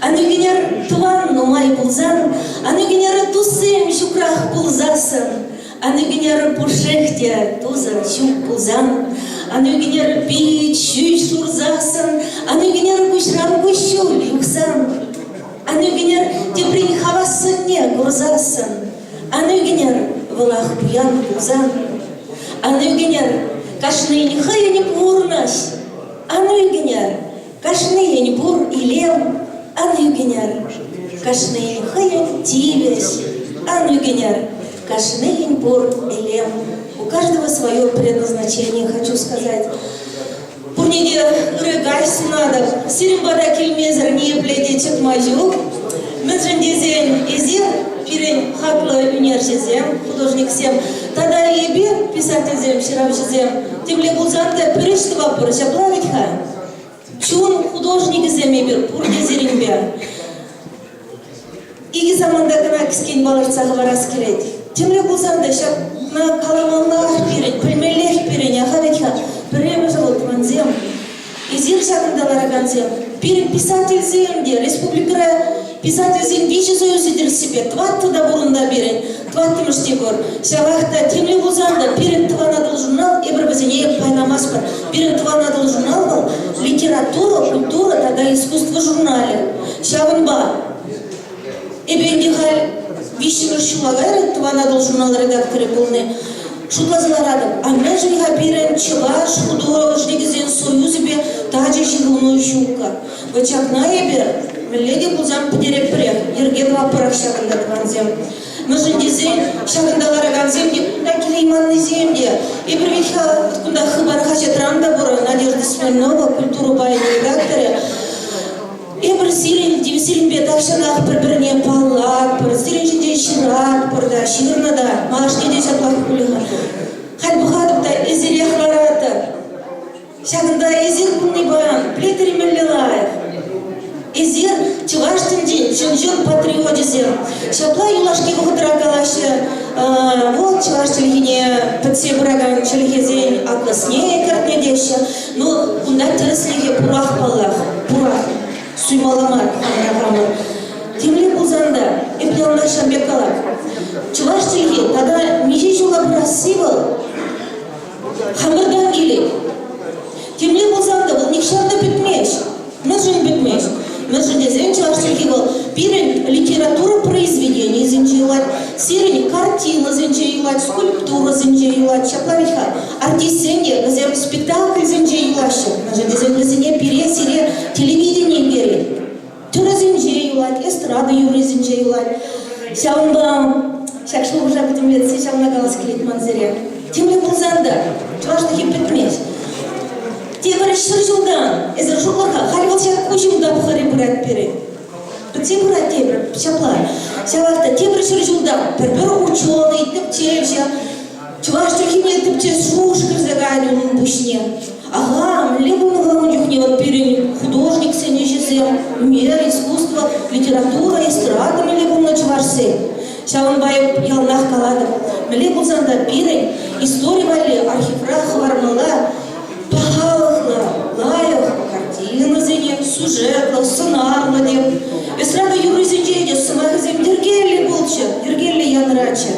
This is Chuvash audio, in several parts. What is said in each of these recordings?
Аннӳкӗнер тӑван нумай пулсан, аннӳкӗнер туссем ҫукрах пулсассӑн, аннӳкӗнер пушшех те тусӑр ҫук пулсан, аннӳкӗнер пит ҫӳҫ шурсассӑн, аннӳкӗнер куҫран куҫҫуль юхсан, аннӳкӗнер теприн хавассӑнне курсассӑн, аннӳкӗнер вӑлах пуян пулсан, аннӳкӗнер кашнин хӑйӗн пурнӑҫ, аннӳкӗнер Кашнийӗн пур илем ан ӳкӗнӗр. Кашнийӗн хӑйӗн тивӗҫ ан ӳкӗнӗр. Кашнийӗн пур илем. У каждого свое предназначение, хочу сказать. Пурине ырӑ сунатӑп. Сирӗн пата килмесӗр ниепле те чӑтма ҫук. Мӗншӗн тесен эсир пирӗн хаклӑ ӳнерҫӗсем, художниксем тата эпир, писательсем, ҫыравҫӑсем, темле пулсан та пӗр ӗҫ тӑватпӑр, ҫапла вӗт-ха? Чун художникӗсем эпир пурте сирӗнпе. Икӗ саманта кӑна кӗскен палӑртса хӑварас килет. Тимлӗ пулсан та ҫакна каламаллах пирӗн, пӗлмеллех пирӗн, аха вӗт-ха, пӗрремӗш вӑл тӑвансем. Эсир ҫакӑнта ларакансем, пирӗн писательсем те, республикӑра писательсен виҫӗ союзӗ тӗрӗссипе, тӑваттӑ та пур унта пирӗн. Тӑваттӑмӗш Егор, ҫавах та темле пулсан та пирӗн тӑван Атӑл журнал эпир вӗсене пайланамастпӑр. Пирӗн тӑван Атӑл журнал вӑл литература, культура тата искусство журналӗ. Ҫавӑнпа эпӗ ӗнтӗ халь виҫҫӗмӗш ҫула кайрӗ тӑван Атӑл журнал редакторӗ пулни. Шутласа ларатӑп, а мӗншӗн-ха пирӗн чӑваш художникӗсен союзӗпе тачӑ ҫыхӑну ҫуккӑ? Ачакна эпӗ мӗнле те пулсан пӗтеретпӗрех. Йӗрке тӑватпӑрах ҫакӑнта тӑвансем. Мӗншӗн тесен ҫакӑнта ларакансем те, кунта килейманнисем те. Эпир ведь кунта Хыпар хаҫатран та пур, Надежда Смирнова культура пайӗн редакторӗ. Эпир сирӗн тем сирӗнпе тахҫанах пӗр-пӗрне паллатпӑр, сирӗн ҫинчен ҫыратпӑр та, ҫырнӑ та, малашне те ҫаплах пулӗ. Халь пӑхатӑп та, эсирех ларатӑп. Ҫакӑнта эсир пулнипе пӗлтермелле лайӑх. Эсир, чӑваш тӗнчин ҫынҫын патриочӗсем, ҫапла юлашки вӑхӑтра калаҫҫӗ, вӑл чӑваш чӗлхине пӗтсе пыракан чӗлхесен атнӑсне кӗртнӗ теҫҫӗ. Ну, кунта тӗрӗслӗхе пурах паллах, пурах. Суймалла мар хамӑра хамӑр. Темле пулсан та, эпне ӑна ҫав пек калать. Чӑваш чӗлхи тата миҫе ҫула пырасси вӑл? Хамӑртан килет. Темле пулсан та вӑл нихҫан та пӗтмест. Мӗншӗн пӗтмест? Мӗншӗн тесен чӑваш чӗлхи вӑл пирӗн литература произведенийӗсенче юлать, сирӗн картинӑсенче юлать, скульптурӑсенче юлать. Ҫапла вӗт-ха, артистсем те вӗсем спектакльсенче юлаҫҫӗ, мӗншӗн тесен вӗсене пире, сире телевидени кӗрет. Тӳресенче юлать, эстрада юррисенче юлать. Ҫавӑнпа ҫак шухӑша пӗтӗмлетсе ҫавна калас килет ман сире. Тимлӗ пулсан та чӑвашлӑхӗ пӗтмест. Тепӗр ҫӗр ҫултан эсир шутлӑр-ха, халь вӑл ҫак ку ҫын тапхӑрӗ пырать пирӗн. Пӗтсе пырать тепӗр ҫапла. Ҫавах та тепӗр ҫӗр ҫулта пӗр-пӗр хут ҫулални тӗпчевҫӗ. Чӑваш чӗлхине тӗпчес шухӑш кӗрсе каять унӑн пуҫне. Аха, мӗнле хумханнӑ чухне вӑл пирӗн художниксен ӗҫӗсем, ӳнер, искусство, литература, эстрада мӗнле пулнӑ чӑвашсен? Ҫавӑнпа эп яланах калатӑп, мӗнле пулсан та пирӗн истори валли архивра хӑвармалла пахалӑхлӑ, лайӑх картинӑсене, сюжетлӑ, сӑнарлӑ тем. Эстрада юррисенче те сӑмахӗсем йӗркеллӗ пулччӑр, йӗркеллӗ янӑраччӑр.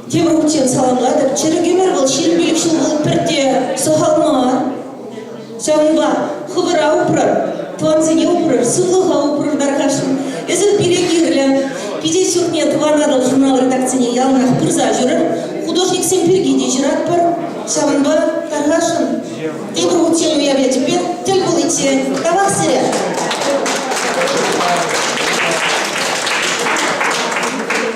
Тем укҫен саламлатӑп. Чӗрӗк ӗмӗр вӑл ҫирӗм пилӗк ҫул вӑл пӗрте сахал мар. Ҫавӑнпа хӑвӑра упрӑр, тӑвансене упрӑр, сывлӑха упрӑр, тархасшӑн. Эсир пире кирлӗ. Пике ҫуртне Тӑван Атӑл журнал редакцине яланах пырса ҫӳрӗр. Художниксем пирки те ҫыратпӑр. Ҫавӑнпа тархасшӑн. Тепӗр утсем уявлячӗпе тӗл пуличчен тавах сире.